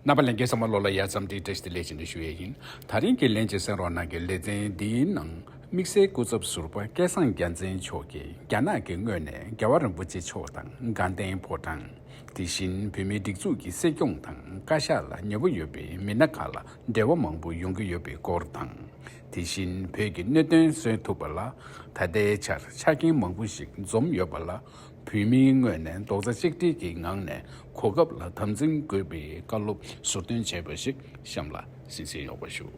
རྣམ་པ་ལེན་མཁན་ཚང་མ་བློ་ལ་ཡ་མཚམས་འདྲིས་བྲེལ་ཏེ་ལས་བྱེད་འདི་ཞུ་ཡས་ཡིན། ད་རིང་གི་ལན་གཅིག་སེང་རོག་ནང་གི་ལེ་ཚན་འདིའི་ནང་དམིགས་བསལ་སྐུ་ཚབ་ཟུར་པ་སྐལ་བཟང་རྒྱ་མཚན་མཆོག་གིས་རྒྱ་ནག་གི་ངོས་ནས་རྒྱལ་བ་རིན་པོ་ཆེ་མཆོག་དང་དགའ་ལྡན་ཕོ་བྲང། དེ་བཞིན་བོད་མིའི་སྒྲིག་འཛུགས་ཀྱི་སྲིད་སྐྱོང་དང་བཀའ་ཤག་ལ་ཉེ་བོ་ཡོད་པའི་མི་སྣ་ཁག་ལ་འབྲེལ་བ་མང་པོ་ཡོང་གི་ཡོད་པའི་སྐོར་དང། དེ་བཞིན་བོད་ཀྱི་གནད་དོན་སོན་ཐུབ་པ་ལ་ད་ལྟའི་ཆར་ཆ་རྐྱེན་མང་པོ་ཞིག་འཛོམས་ཡོད་པ་ལ་བོད་མིའི་ངོས་ནས་རྡོག་རྩ་གཅིག་སྒྲིལ་གྱི་ངང་ནས་གོ་སྐབས་ལ་དམ་འཛིན་དགོས་པའི་བཀའ་སློབ་ཟུར་འདོན་བྱས་པ་ཞིག་གཤམ་ལ་གཟིགས་མཁན་ཡོང་བ་ཞུ།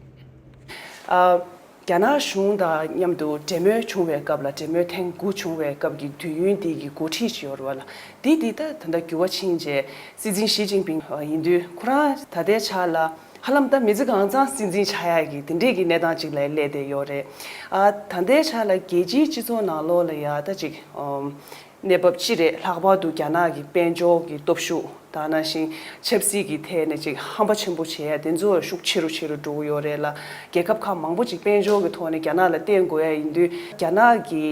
རྒྱ་ནག་གཞུང་དང་མཉམ་དུ་འབྲེལ་མོལ་བྱུང་བའི་སྐབས་ལ་འབྲེལ་མོལ་ཐེངས་དགུ་བྱུང་བའི་སྐབས་ཀྱི་དུས་ཡུན་དེ་ཀྱི་འགོ་ཁྲིད་བྱེད་ཡོར་བ་ལ་དེ་དེ་ད་ད་འགྱུར་བ་ཕྱིན་རྗེས་སྲིད་འཛིན་ཞི་ཅིང་ཕིང་ཡིན་དུས་ཁོ་རང་ད་ལྟའི་ཆ་ལ་ཧ་ལམ་ད་མི་ཚེ་གང་ཙམ་སྲིད་འཛིན་ཆགས་ཡག་གི་དེ་འདྲས་ཀྱི་གནས་སྟངས་ཅིག་ལ་སླེབས་བསྡད་ཡོད་རེད། ད་ལྟའི་ཆ་ལ་རྒྱལ་སྤྱིའི་སྤྱི་ཚོགས་ནང་ལོགས་ལ་ཡག་ད་ཅིག་གནས་བབ་ཅི་རེད་ལྷག་པར་དུ་རྒྱ་ནག་གི་དཔལ་འབྱོར་གྱི་སྟོབས་ཤུགས་དང་ནང་བཞིན་ཆབ་སྲིད་ཀྱི་ཐད་ནས་ཅིག་ཧམ་པ་ཆེན་པོ་བྱས་ཡ་དེ་ཚོ་ཤུགས་ཆེ་རུ་ཆེ་རུ་འགྲོ་གི་ཡོད་རེད་ལ་རྒྱལ་ཁབ་ཁག་མང་པོ་ཅིག་དཔལ་འབྱོར་གྱི་ཐོག་ནས་རྒྱ་ནག་ལ་བརྟེན་དགོས་ཡ་ཡིན་དུས་རྒྱ་ནག་གི་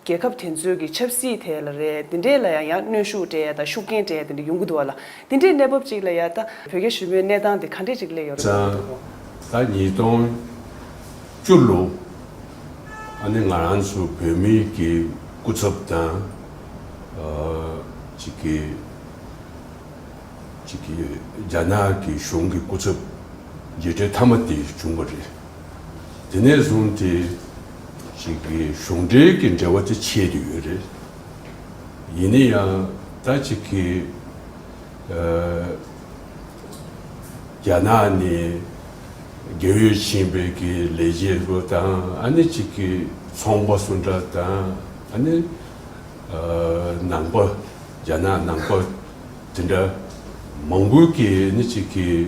རྒྱལ་ཁབ་དེ་ཚོའི་གི་ཆབ་སྲིད་དེ་ལ་རེད་དེ་འདྲས་ལ་ཡང་ཡང་གནོན་ཤུགས་དྲས་དང་ཤུགས་རྐྱེན་དྲས་དེ་འདྲས་ཡོང་གི་འདུག་བ་ལ་དེ་འདྲས་གནས་བབ་ཅིག་ལ་ཡང་ད་བོད་རྒྱ་ཞུ་མོའི་གནས་སྟངས་དེ་ག་འདྲས་ཅིག་སླེབས་ཡོང་རེ་བསམ་འདུག་བ། ད་ཉིས་སྟོང་བཅུ་ལོ་ཨ་ནི་ང་རང་ཚོ་བོད་མི་གི་སྐུ་ཚབ་དང་ཅིག་གི་ཅིག་གི་རྒྱ་ནག་གི་གཞུང་གི་སྐུ་ཚབ་མཇལ་འཕྲད་ཐ་མ་དེ་བྱུང་བ་རེད། དེ་ནས་བཟུང་སྟེ་ཅིག་གཞུང་འབྲེལ་གྱི་འབྲེལ་བ་དེ་ཆད་དུ་ཡོད་རེད། ཡིན་ན་ཡང་ད་ཅིག་གི་རྒྱ་ནག་ནས་རྒྱལ་ཡོལ་ཕྱིན་པའི་གི་ལས་བྱེད་རུ་དང་ཨ་ནི་ཅིག་གི་ཚོང་པ་སུ་འདྲ་དང་ཨ་ནི་ནང་པ་རྒྱ་ནག་ནང་པ་དེ་འདྲ་མང་པོའི་གི་ནི་ཅིག་གི།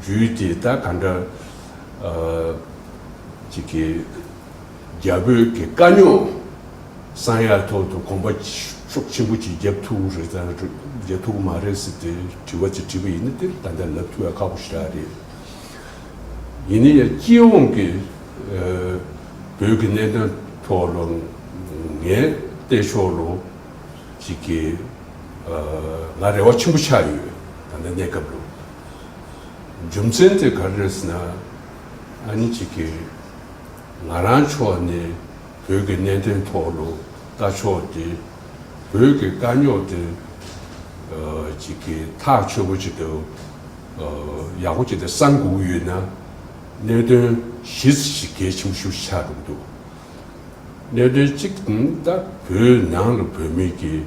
རྒྱུད་དེ་ད་ག་འདྲ། ཅིག་གི། རྒྱ་བོད་ཀྱི་དཀའ་རྙོག་གསང་ཡ་ཐོག་ཏུ་གོམ་པ་ཤོག་ཆེན་པོ་ཅིག་རྒྱབ་ཐུག་རེད་དམ་རྒྱབ་ཐུག་མ་རེད་ཟེར་ཏེ་དྲི་བ་ཅིག་དྲིས་པ་ཡིན་ན་དེར་ད་ལྟ་ལབ་ཐུག་ཡ་ཁག་པོ་ཞིག་རག་རེད། ཡིན་ན་ཡང་སྤྱི་ཡོངས་ཀྱི། བོད་ཀྱི་གནད་དོན་ཐོག་ལོ། ངས་བལྟས་ཤོག་ལོ། ཅིག་གི། ང་རེ་བ་ཆེན་པོ་ཆགས་ཡོད་ད་ལྟ་གནས་སྐབས་ལོ། རྒྱུ་མཚན་དེ་ག་རེ་རེད་ཟེར་ན། ཨ་ནེ་གཅིག་གིས། ང་རང་ཕྱོགས་ནས་བོད་ཀྱི་གནད་དོན་ཐོག་ལོ་ལྟ་ཕྱོགས་དེ། བོད་ཀྱི་དཀའ་རྙོག་དེ། གཅིག་གིས་ཐག་ཆོད་པོ་གཅིག་ཏུ། ཡག་པོ་གཅིག་ཏུ་བསམ་དགོས་ཡོད་ན། གནད་དོན་གཞི་རྩ་གཅིག་གལ་ཆེན་པོ་ཞིག་ཆགས་འགྲོ་གི་འདུག་གནད་དོན་གཅིག་ནི་ད་བོད་ནང་ལ་བོད་མི་ཀྱི་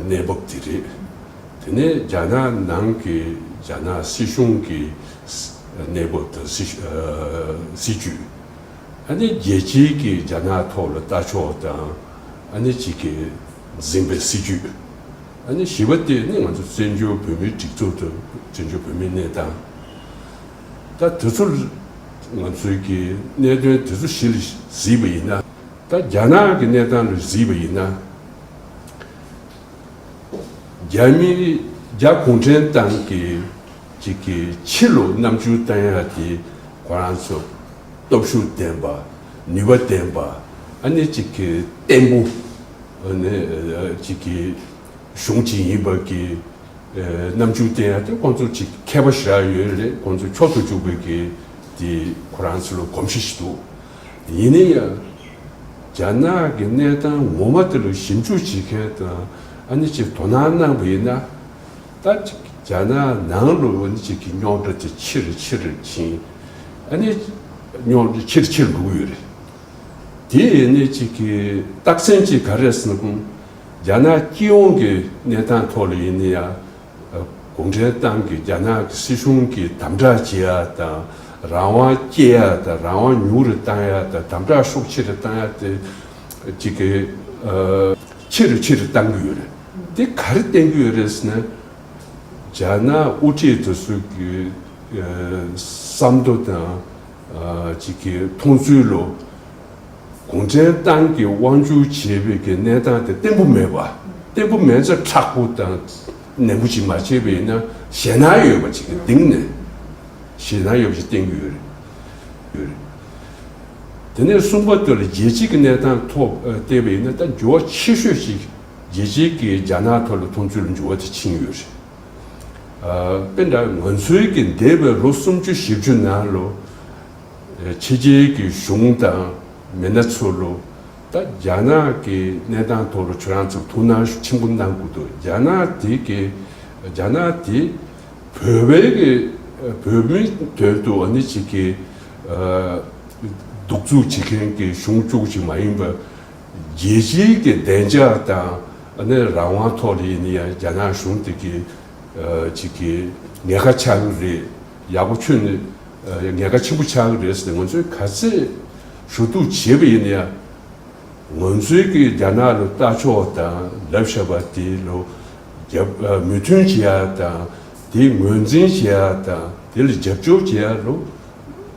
གནས་བབ་དེ་རེད། དེ་ནས་རྒྱ་ནག་ནང་གི་རྒྱ་ནག་སྲིད་གཞུང་གི་གནས་བབ་དང་སྲིད་ཇུས། ཨ་ནི་རྒྱལ་སྤྱི་གི་རྒྱ་ནག་ཐོག་ལ་ལྟ་ཕྱོགས་དང་ཨ་ནི་གཅིག་གི་འཛིན་པའི་སྲིད་ཇུས། ཨ་ནི་བཞི་བ་དེ་ནི་ང་ཚོ་བཙན་བྱོལ་བོད་མིའི་སྒྲིག་འཛུགས་དང་བཙན་བྱོལ་བོད་མིའི་གནས་སྟངས། ད་དེ་ཚོ་ང་ཚོའི་གི་གནད་དོན་དེ་ཚོ་ཞི་ལ་གཟིགས་པ་ཡིན་ན། ད་རྒྱ་ནག་གི་གནས་སྟངས་ལ་གཟིགས་པ་ཡིན་ན། རྒྱ་མི་རིགས་རྒྱ་གུང་ཁྲན་ཏང་གི་ཅིག་གི་ཕྱི་ལོ་ནམ་བཅུ་རྩ་ཡ་དེ་ཁོ་རང་ཚོ་སྟོབས་ཤུགས་ལྡན་པ་ནུས་པ་ལྡན་པ་ཨ་ནེ་ཅིག་གི་བརྟན་པོ་ཨ་ནེ་ཅིག་གི་གཞུང་ཅིག་ཡིན་པ་གི་ནམ་བཅུ་རྩ་ཡ་དེ་ཁོང་ཚོ་ཅིག་མཁས་པ་ཞིག་རག་ཡོད་རེད་ཁོང་ཚོ་འཁྱོག་ཏུ་བཅུག་པའི་གི་དེ་ཁོ་རང་ཚོ་ལ་གོམས་གཤིས་ཞིག་འདུག། ཡིན་ན་ཡང། རྒྱ་ནག་གི་གནས་སྟངས་ངོ་མ་དེ་ལ་ཞིབ་འཇུག་བྱེད་མཁན་དང་ཨ་ནི་ཅིག་དོ་སྣང་གནང་བ་ཡིན་ན། ད་རྒྱ་ནག་ནང་ལ་ཨ་ནི་ཅིག་གི་རྙོག་དྲ་དེ་ཆེར་ཆེར་ཕྱིན། ཨ་ནི་རྙོག་དྲ་ཆེར་ཆེར་འགྲོ་གི་ཡོད་རེད། དེ་ཨ་ནི་ཅིག་གི་རྟགས་མཚན་གཅིག་ག་རེད་ཟེར་ན། རྒྱ་ནག་སྤྱི་ཡོངས་ཀྱི་གནས་སྟངས་ཐོག་ལ་ཡིན་ན་ཡང། གུང་ཁྲན་ཏང་གིས་རྒྱ་ནག་གི་སྲིད་གཞུང་གིས་དམ་བསྒྲགས་བྱེད་ཡག་དང་རང་དབང་སྐྱེད་ཡག་དང་རང་དབང་ཉུང་རུ་གཏང་ཡག་དང་དམ་བསྒྲགས་ཤུགས་ཆེ་རུ་གཏང་ཡག་དེ་གཅིག་གི། ཆེ་རུ་ཆེ་རུ་གཏང་གི་ཡོད་རེད། དེ་ག་རེ་བསྟན་གྱི་ཡོད་རེད་ཟེར་ན། རྒྱ་ནག་དབུ་ཁྲིད་དེ་ཚོ་གི་བསམ་བློ་དང། མཐོང་ཚུལ་ལོ། གུང་ཁྲན་ཏང་གི་དབང་བསྒྱུར་བྱེད་པའི་གི་གནས་སྟངས་དེ་བརྟན་པོ་མེད་པ། བརྟན་པོ་མེད་ཚེ་ཁྲག་པོ་དང་ནན་པོ་ཅིག་མ་བྱས་པ་ཡིན་ན་ཞེད་སྣང་ཡོད་པ་ཅིག་གི་སྟེང་ནས། ཞེད་སྣང་ཡོད་པ་ཅིག་བསྟེན་གྱི་ཡོད་རེད། དེ་ནས་གསུམ་པ་དེ་ལ་རྒྱལ་སྤྱིའི་གི་གནས་སྟངས་ཐོག་བལྟས་པ་ཡིན་ན་ད་འགྱུར་བ་ཆེ་ཤོས་ཅིག་རྒྱལ་སྤྱིའི་གི་རྒྱ་ནག་ཐོག་ལ་མཐོང་ཚུལ་ལ་འགྱུར་བ་དེ་ཕྱིན་ཡོད་རེད། དཔེར་ན་ང་ཚོའི་གི་འདས་པའི་ལོ་སུམ་ཅུ་བཞི་བཅུ་ནང་ལོ། ཕྱི་རྒྱལ་གྱི་གཞུང་དང་མི་སྣ་ཚུར་ལོད། ད་རྒྱ་ནག་གི་གནས་སྟངས་ཐོག་ལ་ཁྱོད་རང་ཚོ་ཐུགས་སྣང་ཆེན་པོ་གནང་དགོས་འདུག་རྒྱ་ནག་དེ་གི་རྒྱ་ནག་དེ་བོད་པའི་གི་བོད་མི་དོན་དུ་འོ་ནི་བྱེད་གི་སྡུག་རྩུག་བྱེད་མཁན་གི་གཞུང་བཅུག་ཅིག་མ་ཡིན་པ། རྒྱལ་སྤྱིའི་གི་བདེ་འཇགས་དང་འོ་ནི་རང་དབང་ཐོག་ལ་ཡིན་ནི་ཡང་རྒྱ་ནག་གཞུང་དེ་གི་བྱེད་གི་ཉེ་ཁ་ཆགས་གི་རེད་ཡག་པོ་ཁྱོད་ནི། ཉེན་ཁ་ཆེན་པོ་ཆགས་ཀྱི་རེད་ཟེར་ནས་ང་ཚོས་ག་ཚད་ཞུ་གཏུག་བྱས་པ་ཡིན་ན་ཡང། ང་ཚོའི་གིས་རྒྱ་ནག་ལ་ལྟ་ཕྱོགས་དང་ལབ་བཤད་པ་དེ་ལ་རྒྱབ་མོས་མཐུན་བྱེད་ཡ་དང་དེ་ངོས་འཛིན་བྱེད་ཡ་དང་དེ་ལ་རྒྱབ་སྐྱོར་བྱེད་ཡ་ལོ་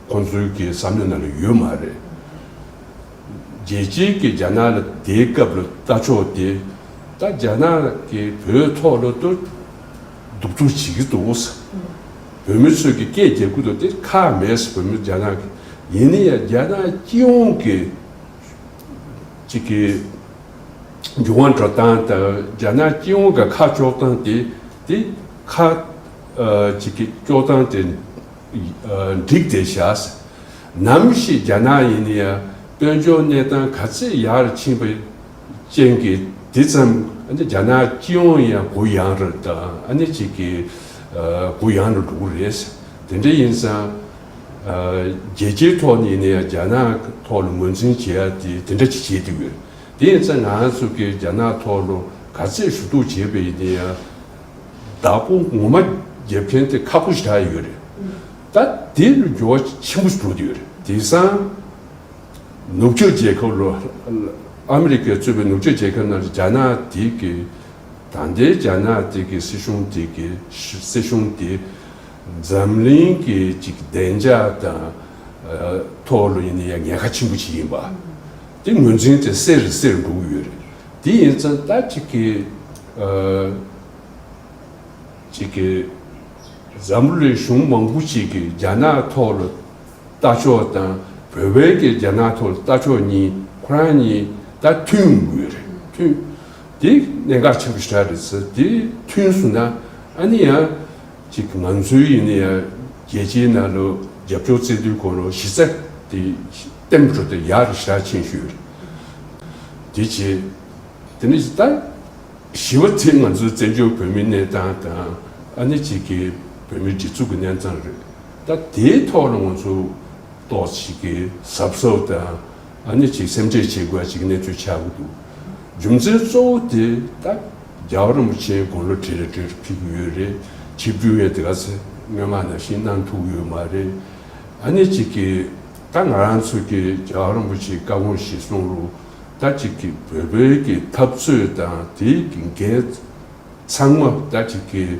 ཁོང་ཚོའི་གིས་བསམ་བློ་ན་ལ་ཡོད་མ་རེད། རྒྱལ་སྤྱིའི་གིས་རྒྱ་ནག་ལ་དེའི་སྐབས་ལ་ལྟ་ཕྱོགས་དེ་ད་རྒྱ་ནག་གིས་བོད་ཐོག་ལ་ལྟོ། གདུག་རྩུབ་བྱེད་ཀྱི་འདུག་ཟེར། བོད་མི་ཚོས་ཀྱི་སྐད་རྒྱག་གི་འདུག་དེར་ཁག་མེད་ཟེར་བོད་མི་རྒྱ་ནག་གི་ཡིན་ནི་ཡང་རྒྱ་ནག་སྤྱི་ཡོངས་ཀྱི་ཅིག་གི་འབྱུང་བ་འགྲོ་སྟངས་དང་རྒྱ་ནག་སྤྱི་ཡོངས་ཀྱི་ཁག་གཅོག་སྟངས་དེ་དེ་ཁག་ཅིག་གི་གཅོག་སྟངས་དེ་འགྲིག་དེ་བཞག་ཟེར། ནམ་ཞིག་རྒྱ་ནག་ཡིན་ནི་ཡང་དཔལ་འབྱོར་གནས་སྟངས་ག་ཚད་ཡག་རུ་ཕྱིན་པ། ཅན་གྱི་དེ་ཙམ་རྒྱ་ནག་སྤྱི་ཡོངས་ཡང་གུ་ཡངས་རུ་དང་གནས་གཅིག་གི་གུ་ཡངས་རུ་འགྲོ་གི་རེད། དེ་འདྲ་ཡིན་ཙང། རྒྱལ་སྤྱིའི་ཐོག་ནས་ནས་རྒྱ་ནག་ཐོག་ལ་ངོས་འཛིན་བྱེད་ཡ་དེ་དེ་འདྲ་ཅིག་བྱེད་ཀྱི་ཡོད། དེ་ཡིན་ཙང་ང་ཚོ་གིས་རྒྱ་ནག་ཐོག་ལ་ག་ཚད་ཞུ་གཏུག་བྱེད་པའི་ཡིན་ཡང། བདག་པོ་ངོ་མ་བརྒྱབ་མཁན་དེ་ཁག་པོ་ཞིག་ཆགས་ཡོད་རེད། ད་དེ་ལ་འགྱུར་བ་ཆེན་པོ་ཞིག་འགྲོ་གི་ཡོད་རེད། དེང་སང། ནུབ་ཕྱོགས་རྒྱལ་ཁབ་ལོ། ཨ་མི་རི་ཀས་གཙོས་པའི་ནུབ་ཕྱོགས་རྒྱལ་ཁབ་རྣམས་ཀྱིས་རྒྱ་ནག་དེ་གའི། ད་ལྟའི་རྒྱ་ནག་དེ་གའི་སྲིད་གཞུང་དེ་གའི་སྲིད་གཞུང་དེ། འཛམ་གླིང་གི་གཅིག་བདེ་འཇགས་དང། ཐོག་ལ་ཡིན་ན་ཡང་ཉེན་ཁ་ཆེན་པོ་ཞིག་ཡིན་པ། དེ་ངོས་འཛིན་དེ་གསལ་རེ་གསལ་འགྲོ་གི་ཡོད་རེད། དེ་ཡིན་ཙང་ད་ཅིག་གི། ཅིག་གི། འཛམ་བུ་གླིང་གཞུང་མང་པོ་ཞིག་གིས་རྒྱ་ནག་ཐོག་ལ། རྟ་མཆོག་དང་བོད་བར་གྱི་རྒྱ་ནག་ཐོག་རྟ་མཆོག་གཉིས་ཁོ་རང་གཉིས་ད་མཐུན་དགོས་རེད་མཐུན། དེ་གནད་འགག་ཆེན་པོ་ཞིག་རེད་ཚེ་དེ་མཐུན་སོང་ན་ཨ་ནི་ཡང་ཅིག་ང་ཚོའི་ཡིན་ན་ཡང་རྒྱལ་སྤྱིའི་ནང་ལོ་རྒྱབ་ཕྱོགས་བརྩེ་དུང་གོ་ལོ་གཞི་རྩ་དེ་གཏན་པོ་འགྲོ་དེ་ཡག་རེད་ཞེ་དྲག་མཁྱེན་ཤོས་རེད་དེ་བྱེད། དེ་ནི་ད་ཞི་བ་དེ་ང་ཚོའི་བཙན་བྱོལ་བོད་མི་གནས་སྟངས་དང་ཨ་ནི་ཅིག་གི་བོད་མི་སྒྲིག་འཛུགས་ཀྱི་གནས་སྟངས་རེད། ད་དེའི་ཐོག་ལ་ང་ཚོ་ཏོག་ཅིག་གི་ཟབ་ཟོབ་དང་ནི་ཅིག་སེམས་ཁྲལ་བྱེད་དགོས་པ་ཅིག་གནས་ཚུལ་ཆགས་ཀྱི་འདུག་རྒྱུ་མཚན་གཙོ་བོ་དེ་ད་རྒྱ་གར་རིན་པོ་ཆེའི་དགོང་ལོ་དྲིལ་ལ་དྲིལ་དུ་ཕེབས་ཀྱི་ཡོད་རེད་ཆིབས་བསྒྱུར་ཡང་དེ་ག་ཚེ་སྨོན་མ་ནང་བཞིན་གནང་ཐུབ་ཡོད་མ་རེད་ཨ་ནི་ཅིག་གིས་ད་ང་རང་ཚོ་གི་རྒྱ་གར་རིན་པོ་ཆེའི་བཀའ་དགོངས་གཞི་བཟུང་རུ་ད་ཅིག་གི་བོད་པའི་གི་འཐབ་རྩོད་དང་དེའི་གི་འགལ་ཚང་མ་ད་ཅིག་གི།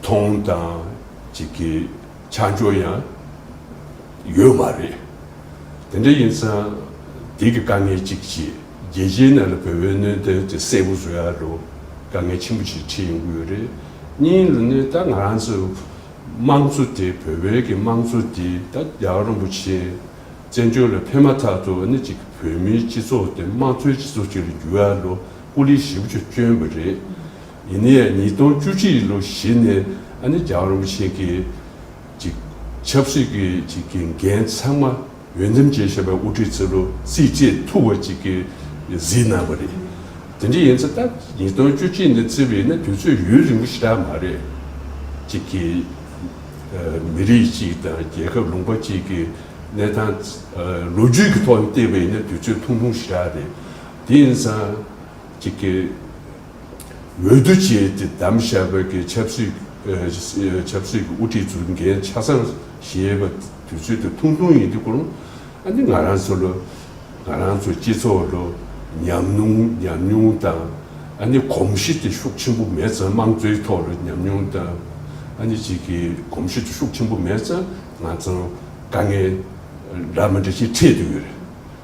མཐོང་དང་བྱེད་ཀྱི་ཆ་འཇོག་ཡང་ཡོད་མ་རེད། དེ་འདྲ་ཡིན་ཙང་དེ་གི་དཀའ་ངལ་གཅིག་ཅེས་རྒྱལ་སྤྱིའི་ནང་ལ་བོད་པའི་གནོད་ཐེབས་དེ་གསལ་པོ་བཟོ་ཡ་རུ་དཀའ་ངལ་ཆེན་པོ་ཞིག་འཕྲད་ཡོང་གི་ཡོད་རེད། གཉིས་ལ་ནི་ད་ང་རང་ཚོའི་དམངས་གཙོ་དེ་བོད་པའི་གི་དམངས་གཙོ་དེ་ད་རྒྱལ་བ་རིན་པོ་ཆེ་བཙན་བྱོལ་ལ་ཕེབས་མ་ཐག་ཏུ་ནི་གཅིག་གི་བོད་མིའི་སྤྱི་ཚོགས་དེ་དམངས་གཙོའི་སྤྱི་ཚོགས་ཅིག་ལ་འགྱུར་ཡ་རུ་སྐུ་ལས་ཞིབ་ཅིག་བསྐྱོན་པ་རེད། ཡིན་ནས་ཉིས་སྟོང་བཅུ་གཅིག་ལོ་གཞི་ནས་ཨ་ནེ་རྒྱ་རོམ་ཞིག་གིས་ཆབ་སྲིད་ཀྱི་གི་འགན་ཚང་མ་འོས་འདེམས་བྱེད་བཞིན་པའི་དབུ་ཁྲིད་ཚེ་ལོ་རྩིས་བཅས་ཐུགས་བ་གཅིག་གིས་གཟིགས་གནང་བ་རེད། དེ་འདྲ་ཡིན་ཚེ་ད་ཉིས་སྟོང་བཅུ་གཅིག་ནས་བརྩི་བ་ཡིན་ན་དུས་ཚོད་ཡུན་རིང་པོ་ཞིག་རག་མ་རེད། གཅིག་གིས་མི་རིགས་གཅིག་དང་རྒྱལ་ཁབ་ལུང་པ་གཅིག་གི་གནས་སྟངས་ལོ་རྒྱུས་ཀྱི་ཐོག་ནས་བལྟས་པ་ཡིན་ན་དུས་ཚོད་ཐུང་ཐུང་ཞིག་རག་རེད། དེ་ཡིན་ཙང་གཅིག་གིས། འོས་བསྡུ་བྱས་ཏེ་བདམས་བཞག་བོད་ཀྱི་ཆབ་སྲིད་ཆབ་སྲིད་ཀྱི་དབུ་ཁྲིད་ཚུར་འགན་ཆ་ཚང་བཞེས་པ་དུས་ཚོད་དུ་ཐུང་ཐུང་ཡིན་དུས་སྐུ་རུང་ཨ་ནི་ང་རང་ཚོ་ལོ་ང་རང་ཚོ་སྤྱི་ཚོགས་ལོ་ཉམས་མྱོང་ཉམས་མྱོང་དང་ཨ་ནི་གོམས་གཤིས་དེ་ཤུགས་ཆེན་པོ་མེད་ཙང་དམངས་གཙོའི་ཐོག་ལོ་ཉམས་མྱོང་དང་ཨ་ནི་གཅིག་གི་གོམས་གཤིས་དེ་ཤུགས་ཆེན་པོ་མེད་ཙང་ང་ཚོ་དཀའ་ངལ་འདྲ་མི་འདྲ་ཞིག་འཕྲད་དུ་ཡོད་རེད།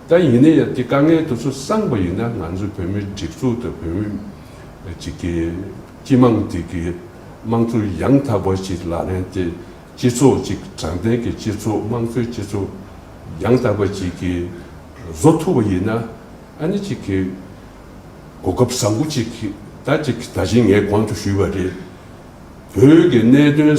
ད་ཡིན་ན་ཡང་དེ་དཀའ་ངལ་དེ་ཚོ་སངས་པ་ཡིན་ན་ང་ཚོའི་བོད་མིའི་སྒྲིག་འཛུགས་དང་བོད་མི་གཅིག་གི་སྤྱི་དམངས་དེ་གི་དམངས་གཙོ་ཡང་དག་པ་ཞིག་ལག་ལེན་དེ་སྤྱི་ཚོགས་ཅིག་དྲང་བདེན་གྱི་སྤྱི་ཚོགས་དམངས་གཙོའི་སྤྱི་ཚོགས་ཡང་དག་པ་ཅིག་གི་བཟོ་ཐུབ་པ་ཡིན་ན་ཨ་ནི་ཅིག་གི་གོ་སྐབས་བཟང་པོ་ཅིག་ད་ཅིག་ད་བཞིན་ངས་གོང་དུ་ཞུས་པ་རེད། བོད་ཀྱི་གནད་དོན།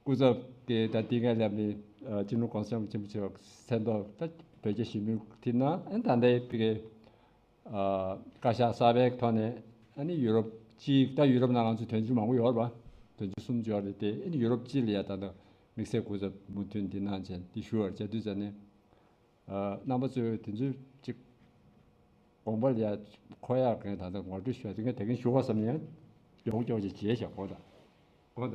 སྐུ་ཚབ་ཀྱིས་ད་ལྟའི་སྔ་ལབ་ནས་ཅི་ནུས་གང་བསམ་ཆེན་པོ་བྱས་པ་གསལ་མདོག་ལྟ་བོད་རྒྱ་ཞི་མོལ་ཁྲིད་ན་ཨན་ད་ལྟའི་བོད་རྒྱའི་བཀའ་ཤག་གསར་པའི་ཐོག་ནས་ཨན་ཡུ་རོབ་སྤྱི་ད་ཡུ་རོབ་ན་ང་ཚོ་དོན་གཅོད་མང་པོ་ཡོད་རེད་པ་དོན་གཅོད་གསུམ་ཅོག་རེད་དེ་ཨན་ཡུ་རོབ་སྤྱི་ལ་ཡ་ད་དམིགས་བསལ་སྐུ་ཚབ་མུ་མཐུད་འདི་གནང་བྱས་འདི་ཞུ་བར་བྱ་དུས་ཙ་ནས། རྣམ་པ་གཙོས་དེ་ཚོའི་གཅིག། དགོངས་པ་ལས། ཁོ་ཡར་གན་ད་དུང་ངོ་སྤྲོད་ཞུ་བ་དེ་ངས་དེ་གན་ཞུ་གོ་བསམ་ནས། ཡོང་ཀྱོག་ཅིག་བྱས་ཤག་གོ་ད། གོ་ད།